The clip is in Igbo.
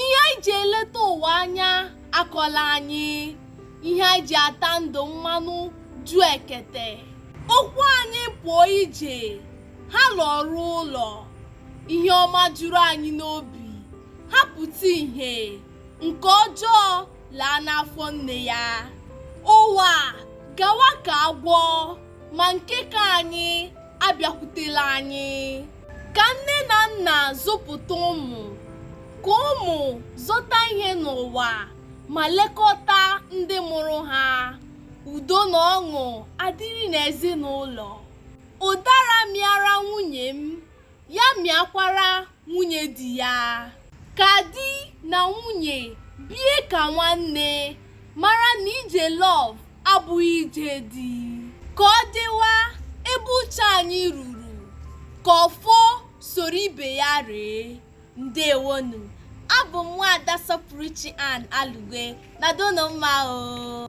ihe anyị ji eleta ụwa anya akọla anyị ihe anyị ji ata ndụ mmanụ ju ekete ụkwụ anyị pụọ ije ha lọruo ụlọ ihe ọma juru anyị n'obi ha pụta ihe nke ọjọọ laa n'afọ nne ya ụwa gawa ka agwọ ma nke ka anyị abịakwutela anyị ka nne na nna zụpụta ụmụ ka ụmụ zọta ihe n'ụwa ma lekọta ndị mụrụ ha udo na ọṅụ adịrị n'ezinụlọ ụdara mịara nwunye m ya mịakwara nwunye di ya ka di na nwunye bie ka nwanne mara na ije love abụghị ije dị ka ọ dịwa ebe uche anyị ruru ka ọfọ soro ibe ya ree ndewonụ abụ m nwaada sọpụrụchi ann alugwe nọdụnụ mma o